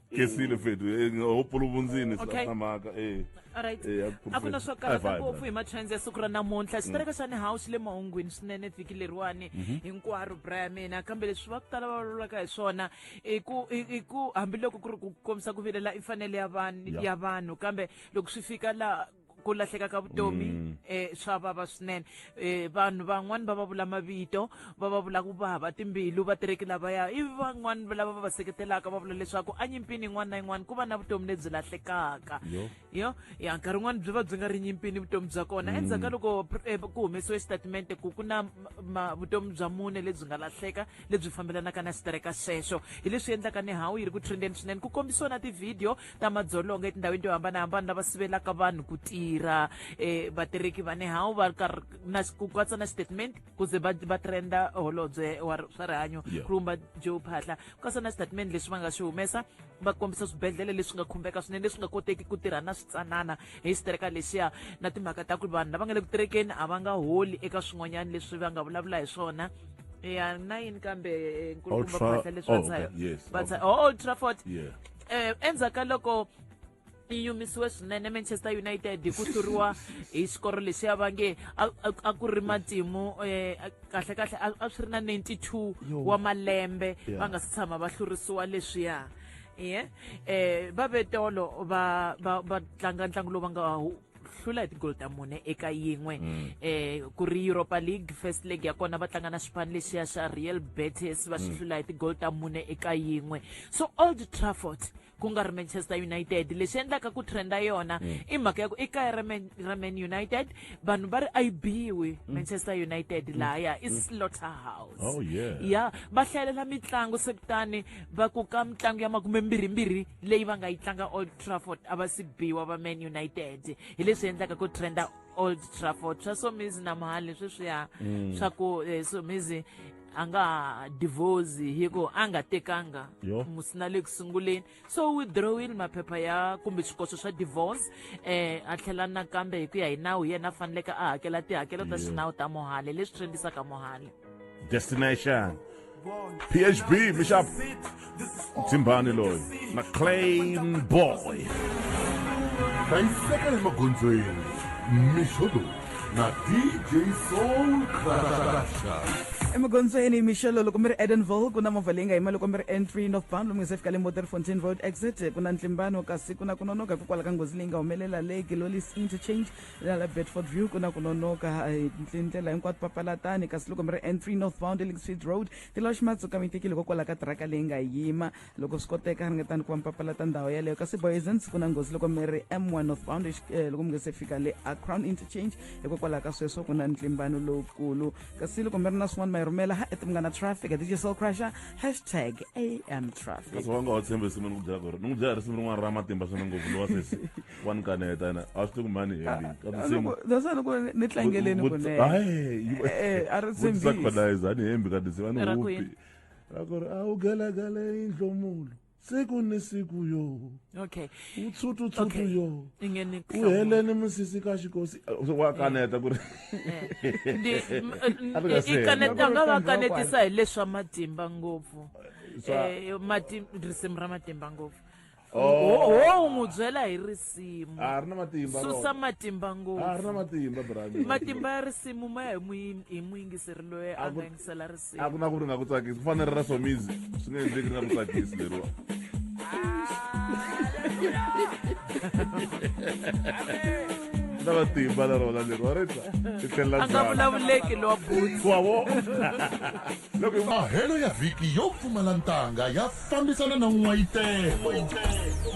kesile fethu eh, ho puluvundzini Okay. sa mhaka eh alright Eh, ya a ku na professor. swo karhata Hi vibe, ngopfu hi matrends ya siku ra namuntlha xitereka xa ni hawu xi le mahungwini swinene vhiki leriwani hinkwaro bra ya mina kambe leswi va ku tala va vulavulaka hi swona i ku i i ku hambiloko ku ri ku kombisa ku vilela i mfanelo ya vanhu Yeah. ya vanhu kambe loko swi fika la ku lahleka ka vutomi mm. eh swa vava swinene eh vanhu van'wani va va vula mavito va va vula ku vava timbilu va tireki lavaya i van'wani lava va va seketelaka va vula leswaku a nyimpini yin'wana na yin'wana ku va na vutomi lebyi lahlekaka yo ya nkarhi wun'wani byi va byi nga ri nyimpini vutomi bya kona mm. endzhaku ka loko eh, ku humesiwe xitatimende ku ku na vutomi bya mune lebyi nga lahleka lebyi fambelanaka na sitereka sweswo hi leswi endlaka ni hawu yi ri ku trendeni swinene ku kombisiwa na tivhidiyo ta madzolonga etindhawini to hambanahambana lava sivelaka vanhu ku tirha um vatirheki va nehawu va karhi na ku katsa na statement ku ze va va trenda holobye wa swa rihanyo Yeah. khumba joe phahla ku katsa na statement leswi va nga swi humesa va kombisa swibedhlele leswi nga khumbeka swinene leswi nga koteki ku tirha na switsanana hi xitireka lexiya na timhaka ta ku ri vanhu lava nga le ku tirekeni a va nga holi eka swin'wanyana leswi va nga vulavula hi swona ya na yini kambe eh, nkulukumba Ultra- phahla leswi oh, va tshayo okay, yes, va tshayo oh, old trafford yeah um endzhaku ka loko yi yumisiwe swinene manchester united hi ku hluriwa hi xikoro lexi ya va nge a ku ri matimu um eh, kahle kahle a swi ri na 92 wa malembe va nga si tshama va hlurisiwa leswiya ye um eh, va vetolo va va va tlanga ntlangu lowu va nga hlula hi tigol ta mune eka yin'we mm. eh ku ri europa league first leg ya kona va tlanga na xipano lexiya xa real betis va swi mm. hlula hi tigol ta mune eka yin'we so old trafford ku nga ri manchester united lexi endlaka ku trenda yona mm. i mhaka ya ku i kaya ra man united vanhu va ri a yi biwi mm. manchester united mm. laya i slaughter house oh, yeah. ya va hlayelela mitlangu se kutani va ku ka mitlangu ya makume mbirhimbirhi leyi va nga yi tlanga trafford a va si biwa va man united hi leswi endlaka ku trenda old trafford swa somizi na mhali sweswiya mm. swa ku eh, somizi a nga ha divorce hi ku a nga tekanga musina le ku sunguleni so withdrawile maphepha ya kumbe swikoxo swa divorce um a tlhela nakambe hi ku ya hi nawu yena a faneleke a hakela tihakelo ta xinawu ta mohale leswi trendisaka mohale Destination. PHB, Bishop. Timbani loyi. McLean Boy. Hlayiseka emagondzweni. Mishodo na DJ Soul Crusher. emagondzweni mixelo loko mi ri edenville ku na movha leyi nga yima loko mi ri entry north bound lomu nge se fika le moterfontein road exit ku na ntlimbano kasi ku na ku nonoka hikokwalaho ka nghozi leyi nga humelela le gilolies interchange la la bedford view ku na ku nonoka hi ndlela hinkwato papalatani kasi loko mi ri n3 northbound elixfeed road tilosh matsuka mi tekile hikokwalaho ka tiraka leyi nga yima loko swi koteka ringetani ku va mi papalata ndhawu yeleyo kasi boyesens ku na nghozi loko mi ri m1 northbound eh, loko mi nge se fika le a crown interchange hikokwalaho ka sweswo ku na ntlimbano lowukulu kasi loko mi ri na swin'wana ma yi rhumela ha eti munghana traffic dj soul crusher hashtag am traffic kasi wa nga wa tshembisi mi ni ku byela ku ri ni ku byela risimu rin'wana ra matimba swinene ngopfu lowa sesi wa ni kaneta yena a swi tiku mhani hi endlini ka tinsimu that's why loko ni tlangeleni kunene a ri tshembisa khonaiza a ni hembi ka tinsimu a ni hupi ra ku ri a wu galagale yindlomulo siku ni siku yo okay utshutu tshutu yo uheleni musisi ka xikosi wa kaneta ku ri i kaneta nga va kanetisa hi leswa matimba ngopfu eh, risimu ra matimba ngopfu ho n'wi byela hi risimu a ri na matimba susa matimba ngopfu a ri na matimba brand matimba ya risimu ma ya hi muyingiseri loyi a nga yingisela risimu a ku na ku ri nga ku tsakisi ku fanele ra somizi swi nga endleki ri nga ku tsakisi leriwa na matimba na rona leriwa ri ta ti tlhelela a nga vulavuleki lowa butsi wavo Mahelo ya vhiki yo pfumala ntanga ya fambisana na n'wayitelo,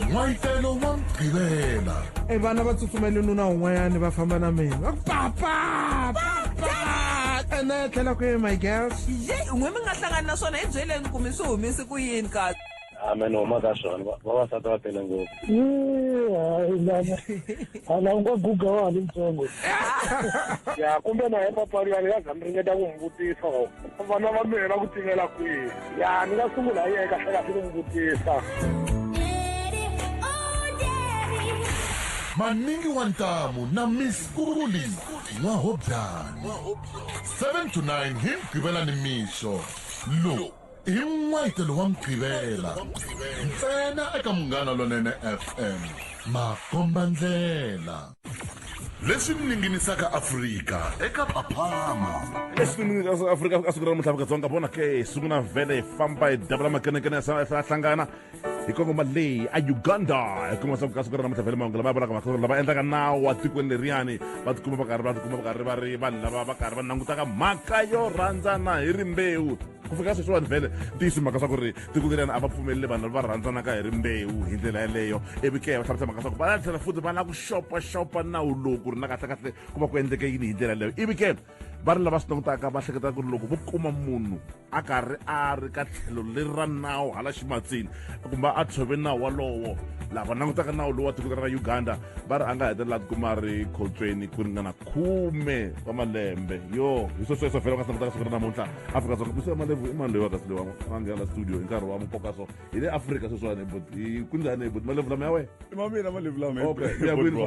n'wayitelo wa Mugqivela. E vana va tsutsumele nuna un'wanyani va famba na mina va ku papa papa ene tlhela kwihi my girls Ye, un'we mi nga hlangani na swona hi byeleni ku mi swi humese ku yini kasi. amen huma ka swona Va- vavasati va tele ngopfu Yee, hayi lana hala u nga guga wa ha ri ntsongo ya kumbe na hepapari ya ni nga za mi ringeta ku n'wi vutisa or vana va mina ku tivela kwihi ya ni nga sungula hi yeka hlekahle ku n'wi vutisa maningi wa ntamu na miss kuli n'wahobyana 7 to 9 hi mgqivela ni mixo lowu hi n'wetelo wa mugqivela ntsena eka munghana lonene fm makombandlela leswi ninginisaka afrika eka phaphama leswi ninginisaka afrika ka siku ra namuntlha afrika dzonga vona ke sungula vhele hi famba hi dabula makenekene ya hlangana hi kongoma leyi a uganda hi kuma swa ku ka siku ra namuntlha vhele mahungu lama ya vonaka makhasolo lava endlaka nawu wa tikweni leriyani va tikuma va karhi va tikuma va karhi va ri vanhu lava va karhi va langutaka mhaka yo rhandzana hi rimbewu ku fika sweswiwani vhele tiyisi mhaka swa ku ri tiko leriyani a va pfumeleli vanhu lava rhandzanaka hi rimbewu hi ndlela yeleyo ivi ke va hlamusela mhaka swa ku va la tlhela futhi va lava ku xopaxopa nawu lowu ku ri na kahlekahle ku va ku endleke yini hi ndlela yeleyo ivi ke va ri lava swi langutaka va hleketa ku ri loko vo kuma munhu a karhi a ri ka tlhelo leri ra nawu hala ximatsini kumbe a tshove nawu walowo laha va langutaka nawu lowu wa tiko ra uganda va ri a nga hetelela ti kuma ri khotsweni ku ringana khume wa malembe yo hi swo sweswo vhela u nga sangutaka siku ra namuntlha afrika dzonga misi malevu i mani loyi wakasi loyi wa nghena studio hi nkarhi wa mukoka so hi le afrika sweswiwani but kunjhani but malevu lama ya wena i ma mina malevu lama okay ya kwini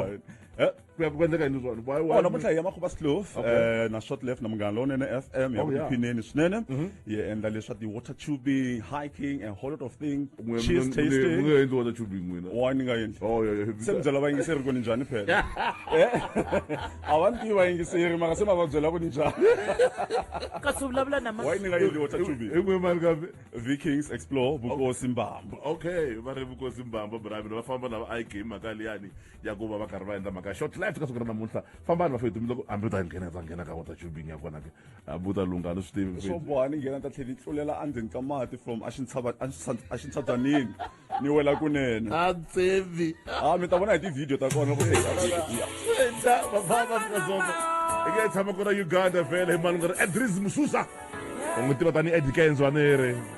ku ya ku endleka yini swona why why wona mutlayi ya makhuba slof eh na short left na munghana lowunene fm ya oh, ku phineni swinene mhm. yi endla leswa ti water tubing hiking and whole lot of things cheese tasting munge endli water tubing n'wina wa ni nga endli oh yeah yeah se mbyela va yingiseri ku ni njhani phela eh? a va ni tiva yingiseri mara se ma va byela ku ni njhani kasi u vulavula na wa ni nga endli water tubing i n'we mali kambe vikings explore vukosi mbamba okay va ri vukosi mbamba bravin va famba lava i game mhaka liyani ya ku va va karhi va endla mhaka short life ka siku ra namuntlha fambani vafetumi loko hambi u ta nghena u ta nghena ka water tubing ya kona ke hambi u ta lungha ni swi tivi swo boha ni nghena ta tlhela ni tlulela endzeni ka mati from a xi ntshava a xi ntshadzanini ni wela kunene a tsevi a mi ta vona hi tivhidiyo ta kona loko feta vafamba fika zongo i nge tshama kona uganda vhele hi malungana edris mususa u n'wi tiva tanihi edikenzwanere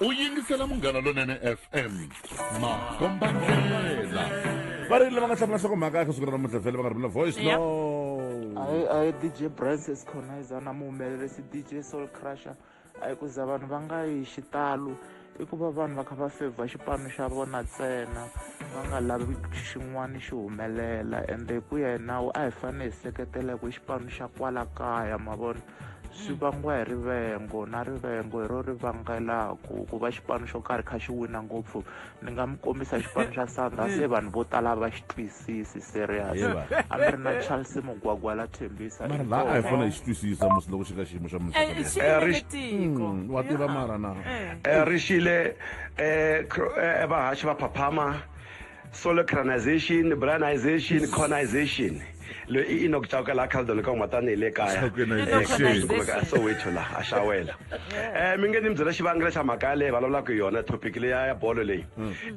u yingisela munghana lonene fm makombandlela va ri lava nga hlamula nhlokomhaka eka siku ra namuntlha vhele va nga rhumela voice no hayi hayi dj brans esconizer na muhumelerisi dj soul crusher a hi ku za vanhu va nga yi xitalo i ku va vanhu va kha va fevha xipano xa vona ntsena va nga lavi xin'wana xi humelela ende hi ku ya hi nawu a hi fanele hi seketela hi ku xipano xa kwala kaya ma vona swi vangiwa hi rivengo na rivengo hi ro ri vangelaka ku va xipano xo karhi kha xi wina ngopfu ni nga mi kombisa xipano xa sandha se vanhu vo tala va xi twisisi serious Yeva. a mi ri na charles mugwagwa la thembisa mara la a hi fanele hi xi twisisa musi loko xi ka xiyimo xa munhu Eh, xi Eh, ri- tiko Mm, wa tiva mara na Eh. Eh, ri xile eh, cro- eh, vahaxi va phaphama Solecranization, Brianization, Yes. Cornization. Loyi i Enoch Chauke la Caldon ka huma tani hi le kaya. Chaukenization. Eh, kasi Enoch kumeka a Soweto la a xawela. Eh mi nge ni byela xivangelo xa mhaka leyi vulavulaka hi yona topic leya ya bolo leyi.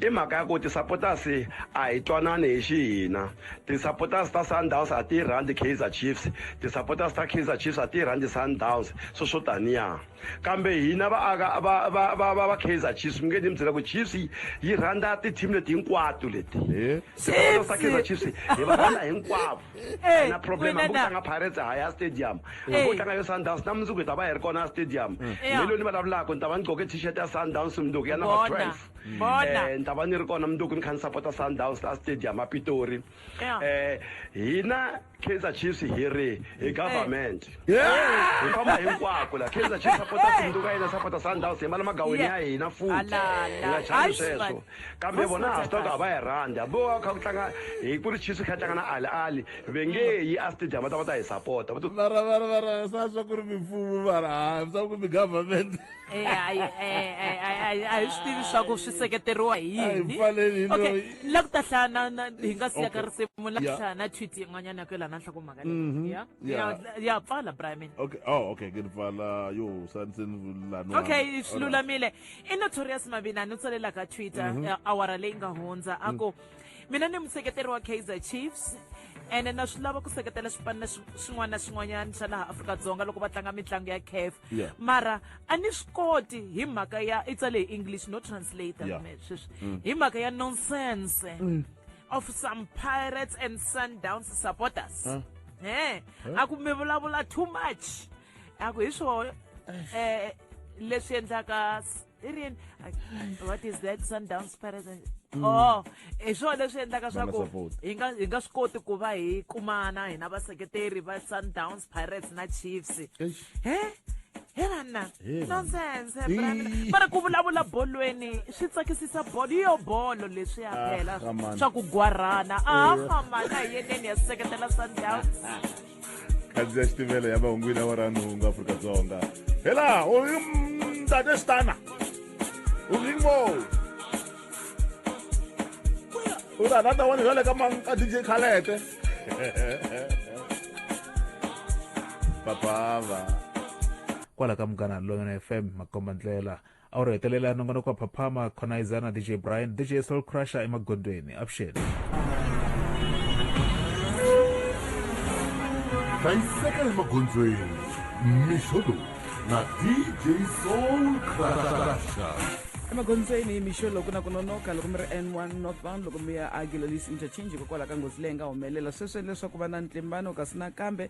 I mhaka ya ku ti-supporters a hi twanani hi xihina. Ti-supporters ta Sundowns a ti yi rhandzi Kaizer Chiefs. Ti-supporters ta Kaizer Chiefs a ti yi rhandzi Sundowns. Swo swo taniya. kambe hina vaaka va va va va va Kaizer Chiefs mi nge ni mi byela ku Chiefs yi yi rhandza ti-team leti hinkwato leti Eh? Swipano swa Kaizer Chiefs hi va rhandza hinkwavo Eh, na problem hambi ku Winana. tlanga Pirates a hi ya stadium hambi Eh. ku tlanga yo Sundowns na mundzuku hi ta va hi ri kona a stadium Yeah. hi lo ni vulavulaka ni ta va ni gqoke t-shirt ya Sundowns mundzuku ya number Bona, 12 bona. Eh, ni ta va ni ri kona mundzuku ni kha ni sapota Sundowns la stadium a Pitori Yeah. eh hina Kaizer Chiefs hi ri hi government hi famba hinkwako la Kaizer Chiefs sapota Sunduka yena sapota Sundowns hi mala magawini ya hina futhi hi nga chavi sweswo kambe vona ha swi tiva ku a va hi rhandi hambi wo kha ku tlanga hi ku ri Chiefs kha tlanga na Ali Ali ve nge yi a stadium va ta va ta hi sapota vara vara vara sa swa ku ri mimfumo vara ha swa ku mi government Eh, hayi eh, eh, hayi, hayi, a hi swi tivi swa ku swi seketeriwa hi A hi yini pfaleli okay loyi. ni la ku ta hlaya na- na- hi nga siya ka Okay. risimu la ku Yeah. hlaya na tweet yin'wanyana ya ku yelana nhla ku mhaka leyi Mhm. ya Yeah. ya- ya pfala brian okay oh okay ke ni pfala yo sa ndzi ni vululani okay wami. swi lulamile i notorious mavina ni tsalela ka twitter Mhm. eh, awara leyi nga hundza a ku mina ni museketeri wa kaizer chiefs ene na swi lava ku seketela swipano na swi- swin'wana na swin'wanyana swa laha afrika-dzonga loko va tlanga mitlangu ya caf Yeah. mara a ni swi koti hi mhaka ya i tsale hi english no translator Yeah. me sweswi Mm. hi mhaka ya nonsense of some pirates and sundowns supporters Huh? he Huh? a ku mi vulavula too much a ku hi swo eh leswi endlaka s- Irian, what is that Sundowns Pirates? And, mm. oh, hi swona leswi endlaka swa ku hi nga hi nga swi koti ku va hi kumana hina vaseketeri va Sundowns Pirates na Chiefs. He? helana nonsense mara ku vulavula bolweni swi tsakisisa bolo yo bolo leswi ya ah, phela swa ku gwarhana a ah, famana hi yeneni ya seketela sundowns khandziya ya xitimela ya mahungwini ya waranungu afrika dzonga hela u ri mtate xitana u ri mo u ri anata wani bya le ka ka dj khalete papava kwala ka munghana lolonene fm makomba ndlela a wu ri hetelela nongonoko wa phaphama khonaiza na dj brian dj soul crusher emagondweni avuxeni hlayiseka emagondzweni mixo lowu na dj soul crusher emagondzweni mixo loko na ku nonoka loko mi ri n1 northbound loko mi ya a gilolisi interchange hikokwalaho ka nghozi leyi nga humelela sweswi leswaku va na ntlimbano kasi nakambe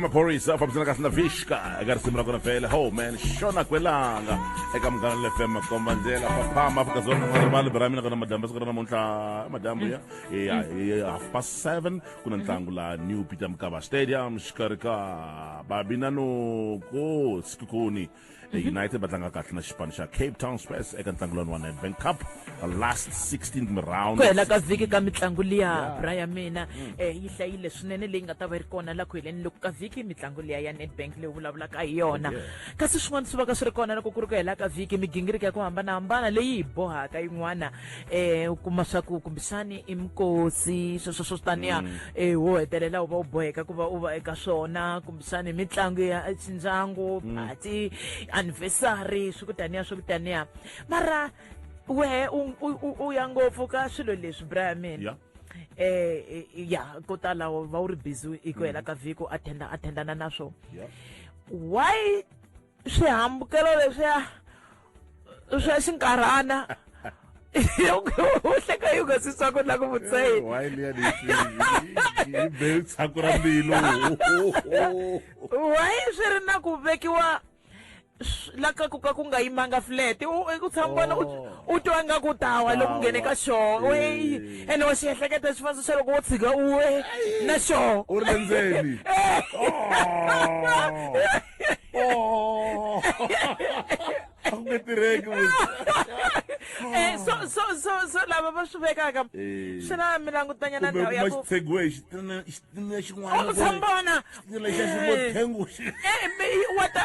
maphorisa a fambisana kahle na vixka eka risimu ra kona vhele ho man xona kwelanga eka munghana lefm makomba ndlela faphama afrika dzonga nga rivali bira mina kona madyambu siku ra namuntlha madyambu ya hi half past seven ku na ntlangu la new peter mkava stadium xikarhi ka babinanoko sikukuni mhm. united va tlanga kahle na xipano xa cape town spurs eka ntlangu lowani wa nedbank cup last 16 round ku hela ka vhiki ka mitlangu liya bra ya mina um yi hlayile swinene leyi nga ta va yi ri kona la ku heleni loko ka vhiki mitlangu liya ya nedbank leyi vulavulaka hi yona kasi swin'wana swi va ka swi ri kona loko ku ri ku hela ka vhiki migingiriko ya ku hambanahambana leyi hi bohaka yin'wana um u kuma swa ku kumbexani i mikosi sweswo swo taniya um mm. eh, wo hetelela u va u boheka ku va u va eka swona swa ni mitlangu ya ndyangu mm. party anniversary swi ku taniya swi ku taniya mara wehe u ya ngopfu ka swilo leswi bra mina yeah. eh ya ko tala va u ri busy hi ku hela mm. ka vhiki u attenda attendana na swo why swihambukelo leswiya swa xinkarhana uhleka yi nga swi swaku na ku vutsayiniitshaku ra mbilu why swi ri na ku vekiwa la ka ku ka ku nga yimanga flat u ku tshama vona u oh. twa nga ku tawa loko nghene ka xoo weyi ene wa xiehleketa xifaniso xa loko wo tshika uwe na xoo u ri le ndzeni oh. oh, I'm going to Eh, so so so so lava va swi vekaka eh. swi na mi langutanya na ndhawu ya ku xitsegiwe xitina xitina xin'wana oh, sambona xitina xa ximothengu eh mi wa ta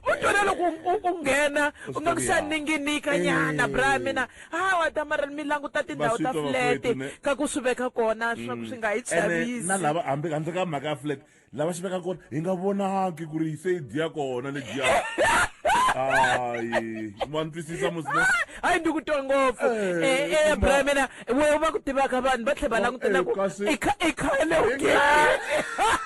u twana loko u nghena u nga ku xa ninginika nyana bra mina Hawa Damarel mi languta tindhawu ta Vaswitwa flat vakwethu, ne- ka ku swi veka kona swa ku swi nga hi ene na chavisi lava hambi handle ka mhaka ya flat lava xi veka kona hi nga vonangi ku ri se yi dya kona ledyiya hayi wa ni twisisa musina hayi ndi ku twa ngopfu Eh, Eh, eh, ma- bra mina we va ku tivaka vanhu va tlhe va Ma- langutela eh, ku kasi- i kha- i khale u Hi nkarhi.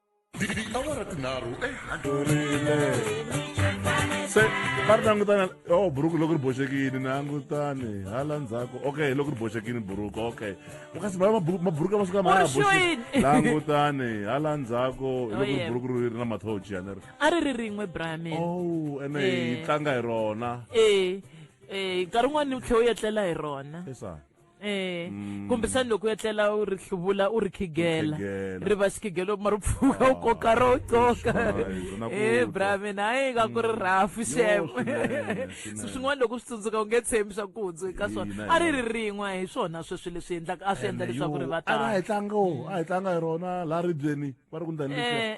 tiawara tinharhu ehandlurile se va ri langutana o oh, buruku loko ri boxekini nangutani hala ndzhaku okay loko ri boxekini buruku okay kasi maburuku masiku lama ya langutani hala ndzhaku oh, loko ri buruku ri ri na mathochi yana ri a ri ri rin'we brame o oh, ene hi eh. tlanga hi rona e nkarhi wun'wana ni tlhe u yetlela hi rona Eh, Mm. kumbisani loko u etlela u ri hluvula u ri khigela khigela. ri va xikhigelo mara u pfuka u koka ro coka Ah, hi swona ku e twa. bra mina hayi ka ku ri rafu xem swinene, swinene. swin'wana loko u swi tsundzuka u nge tshembi swa ku hundzwe ka swona Ina, a ri ri rin'we hi swona sweswi leswi endlaka a swi endla leswaku ri va a hi tala tlanga wo a hi tlanga hi rona laha ribyeni va ri ku ndani Eh.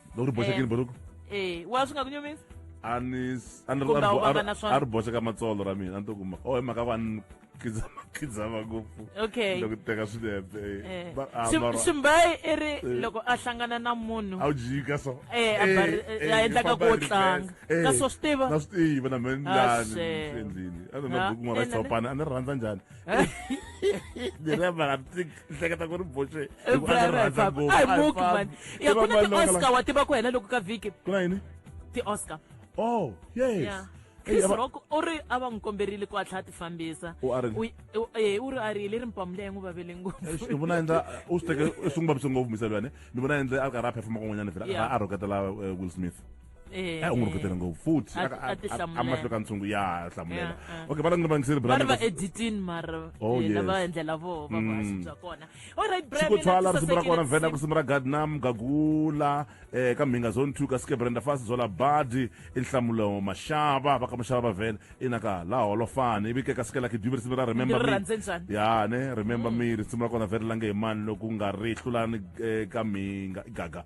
loko ri boxekile buruku eh wa swi nga ku nyumisa a ni a ni Kumbe a wu va nga na swona. a ri boxe ka matsolo ra mina a ni to kuma oh hi mhaka ku a ni khidzama khidzama ngopfu okay loko ni teka swinepe Eh. Ba- ah, Sim- mara- simbayi i ri Eh. loko a hlangana na munhu a wu jika so Eh, a bari- eh, ya endlaka ku wo tlanga. Ka swo swi tiva? na swi tiva na mhe Ah, njani shame. endlini a ni na Ah, buku mara eh, na- xitshopana a ni ri rhandza njhani ni ri mara tik ni hleketa ku ri boxe I hikuva a ni brother hi rhandza papa. ngopfu. Ai, Ai, muki papa. mani. I Ya, ku na vana lava- ti-Oscar, wa tiva ku hela loko ka vhiki ku na yini ti-oscar oh yes ya Ei, chris ava- rock u ri a va n'wi komberile ku a tlhela a ti fambisa U a ri- U- u- eh, u ri a ri hi le ri mpamu leyi n'wi vavele ngopfu Eish, ni vona endla u swi teke swi n'wi vavise ngopfu misavane ni vona endle a ri karhi a performa kun'wanyana vhela a Yeah. karhi a rhoketela eh, will smith Eh, a u n'wi eh. rhuketele ngopfu futhi A- a ti hlamulela. amahlwe ka ntshungu ya ha hlamulela Yeah, ah. okay va langi ni vangiseri va ri va brand editini mara Oh, yena yes. va endlela vo va vuhaxi Mm. bya kona olright xikotshwala risimu ra kona vhena kusimu ra gadnam gagula um ka mhinga zone two ka skebrenda fasi zola badi i nhlamulo maxava va ka maxava va vhena ina ka la holofani ivi ke ka sikela kidyuvi risimu ra remember Ndzi ri me. rhandze njhani? Mm. ya ne remember me risimu ra kona vheri lange hi mani loku nga ri hlulani eh, ka mhinga i gaga